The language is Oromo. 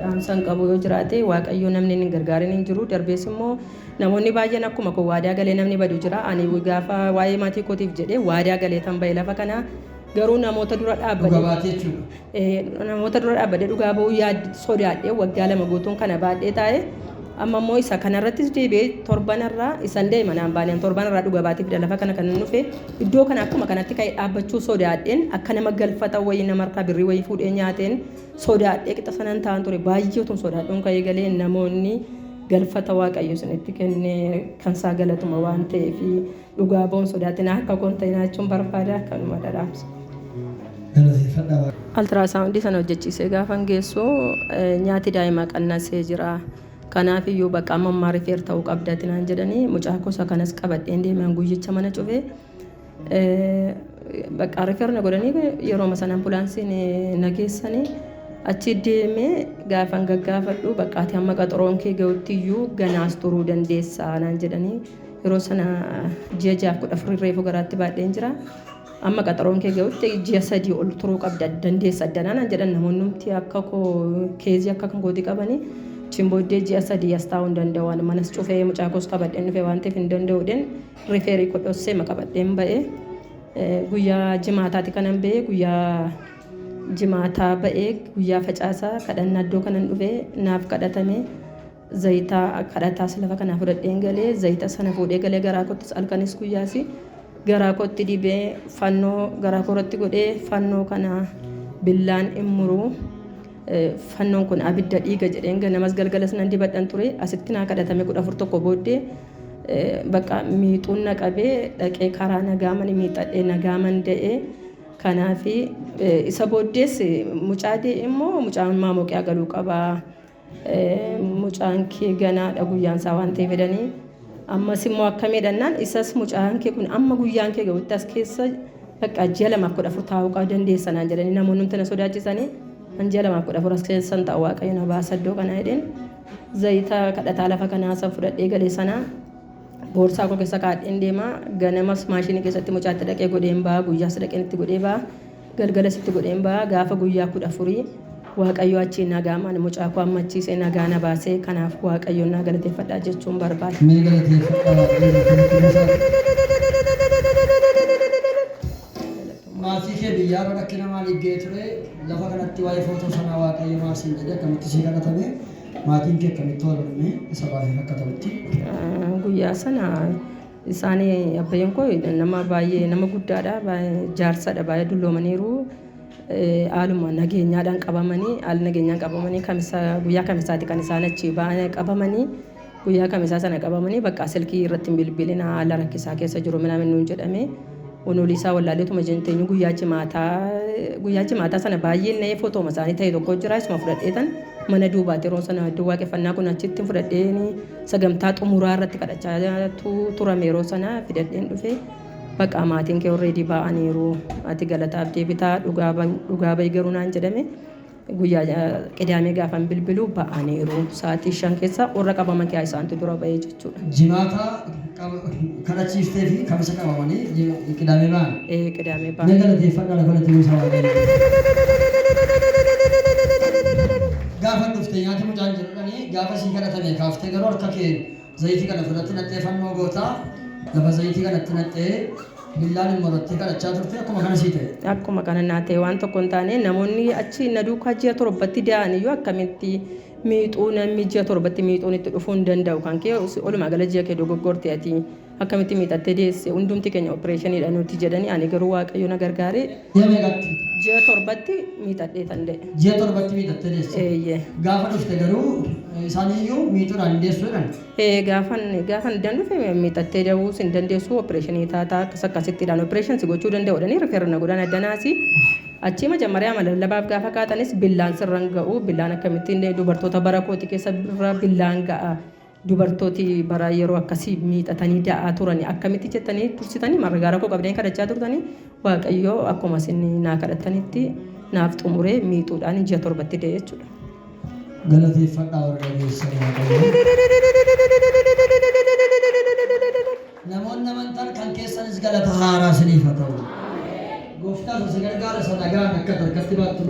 dhaamsan qabu yoo jiraate waaqayyo namni hin gargaarin hin jiru darbees immoo namoonni baay'een akkuma koo waadaa galee namni badu jira ani gaafa waa'ee maatii kootiif jedhee waadaa galee tan ba'e lafa kana garuu namoota dura Dhuga dhaabbate baatee jechuudha. Eh, namoota dura dhaabbadee dhugaa ba'uu yaad sodaadhee waggaa lama guutuun kana baadhee taa'e amma immoo isa kanarrattis deebi'ee torbanarraa isan deema naan baaneen torbanarraa dhuga baatee fida lafa kana kan hin dhufe Iddoo kana akkuma kanatti ka'ee dhaabbachuu sodaadheen akka nama galfata wayii namarraa birrii wayii fuudhee nyaateen sodaadhee qixa sanan ta'an ture baay'ee utuun sodaadhuun ka'ee galee namoonni galfata waaqayyo isinitti kenne kan isaa galatuma waan ta'eef dhugaa ba'uun sodaatinaa akka koon ta'e naachuun barbaada kanuma dhadhaamsa. Altiraasawundii sana hojjechiisee gaafan geessu nyaati daa'imaa qannasee jira. Kanaaf iyyuu bakka amma ammaa rifeer ta'uu qabda ati naan jedhanii mucaa koo isa kanas qabadheen deeman guyyicha mana cufe. Bakka rifeer na godhanii yeroo sana ambulaansiin na geessanii achi deemee gaafan gaggaafadhu bakka ati amma qaxaroon kee ga'utti iyyuu ganaas turuu dandeessaa naan jedhanii yeroo sana ji'a jaaf kudha afurii reefu garaatti baadheen jira. Amma qaxaroon kee ga'utti ji'a sadii ol turuu qabda dandeessa addanaa naan jedhan namoonni akka koo keezii akka kan kooti qabanii chin booddee ji'a sadii as taa'uu hin danda'u waan manas cufee mucaa koos qabadheen dhufe waan ta'eef hin danda'u den rifeerii koo dhossee ma qabadheen ba'ee guyyaa jimaataati kanan ba'ee guyyaa jimaataa ba'ee guyyaa facaasaa kadhannaa iddoo kanan dhufe naaf kadhatamee Zayita kadhataas lafa kanaa fudhadheen gale, zayita sana fuudhee gale garaa koottis halkanis guyyaas garaa kootti dibee fannoo garaa koo irratti godhee fannoo kana billaan in muru Eh, fannoon kun abidda dhiiga jedheen ganamas galgalas nan dibadhan ture asitti naa kadhatame kudha afur tokko booddee eh, bakka miixuun na qabee dhaqee karaa nagaamani miixadhee nagaaman da'ee kanaafi eh, isa booddees eh, mucaa de'e immoo mucaan maamoqiyaa galuu qabaa Mucaan kee ganaadha guyyaan isaa waan ta'eef jedhanii ammas immoo akkamii dhannaan isas mucaan kee kun amma guyyaan kee ga'utti as keessa bakka ji'a lamaaf kudha afur taa'uu qaba dandeessa naan jedhanii namoonni nuti na sodaachisanii an ji'a lamaaf kudha afur as keessan ta'a waaqayyo na baasa iddoo kana jedheen zayita kadhataa lafa kanaa san fudhadhee galee sanaa boorsaa koo keessa kaadheen deemaa ganamas maashinii keessatti mucaatti dhaqee godheen ba'a guyyaas dhaqeen itti godhee ba'a Galgala sitti godheen ba'a, gaafa guyyaa kudha afurii Waaqayyo achii nagaamaan mucaa koo ammachiisee nagaa na baase, kanaaf Waaqayyoon naa galateeffadha jechuun barbaada. Mee galateeffadhaa waaqayyoon akkamitti buusaa. Maatii kee biyyaarra rakkina maaliif ga'ee ture? Lafa kanatti waa'ee footoo sanaa waaqayyo maal siin jedhe? Akkamitti sii kadhatame? Maatiin kee akkamitti wal morme? Isa baay'ee akka ta'utti. Guyyaa sana Isaani abbayyan koo nama baay'ee nama guddaadha jaarsadha baay'ee dulloomaniiru haaluma nageenyaadhaan qabamanii haala nageenyaan qabamanii kamisa guyyaa kamisaati kan isaan achi baay'ee qabamanii guyyaa kamisaa sana qabamanii bakka silkii irratti hin bilbilina haala rakkisaa keessa jiru minaamin nuun jedhame unuulii isaa wallaaleetuma jenteenyu guyyaa jimaataa guyyaa jimaataa sana baay'een na'ee fotooma isaanii ta'e tokko jira isuma fudhadheetan mana duubaati yeroo sana iddoo waaqeffannaa kun achitti fudhadheenii Sagantaa xumuraa irratti kadhachaatu turame yeroo sana fidadheen dhufe. Baqaa maatiin kee already baa'aniiru. Ati galataaf deebitaa dhugaa bahi dhugaa bahi garuu naan jedhame. Guyyaa eh, qidaamee gaafan bilbilu ba'aniiru. Sa'aatii shan keessa warra qabaman keessaa isaantu dura bahee jechuudha. Jimaata qaba- kadhachiiftee fi kamisa qabamanii ji- qidaamee ba'an. Eh, Qidaamee Mee ba'an. galateeffadhaa lafa latti buusaa waaqayyo. Gaafa dhufte nyaata mucaan jedhudhani Gaafa sii kadhatanii kaaftee garuu harka keen zayitii kana ofirratti naqxee fannoo goota. Lafa zayitii kana itti naqxee billaan immoo irratti kadhachaa turte akkuma kana sii ta'e. Akkuma kana naa ta'e waan tokko hin taane namoonni achi na duukaa ji'a torbatti da'an iyyuu akkamitti miixuu namni ji'a torbatti miixuun itti dhufuu hin danda'u kan kee olumaa gala ji'a kee dogoggorte ati. Akkamitti miidhattee deesse? Hundumti keenya oppireeshiniidha nuti jedhanii ani garuu Waaqayyo na gargaaree Ji'a meeqatti? ji'a torbatti miidhadheetan de'e. Ji'a torbatti miidhattee deesse. Eeyyee. Gaafa dhufte garuu isaan iyyuu miixuudhaan hin deessu jedhan. Ee, gaafan gaafan iddaan dhufe miidhattee da'uu sin dandeessu oppireeshinii taataa akkas akkasittiidhaan oppireeshin si gochuu danda'uudhani rifeerra na godhan addanaasi achii majammarii ama lallabaaf gaafa kaatanis billaan sirran ga'u billaan akkamittiin dubartoota bara kooti keessa birra billaan ga'a Dubartooti baraa yeroo akkasi miixatanii da'aa turani akkamitti jettanii tursitanii margaa rakkoo qabdanii kadhachaa turtanii waaqayyoo akkuma isin naa kadhattanitti naaf xumuree miixuudhaan ji'a torbatti da'e jechuudha. Galateeffadhaa warra dhageessan waaqayyoo. Namoonni amantan kan keessanis galata haaraa isiniif haa ta'u. Gooftaatu si gargaara isa nagaan akka harkatti baattu.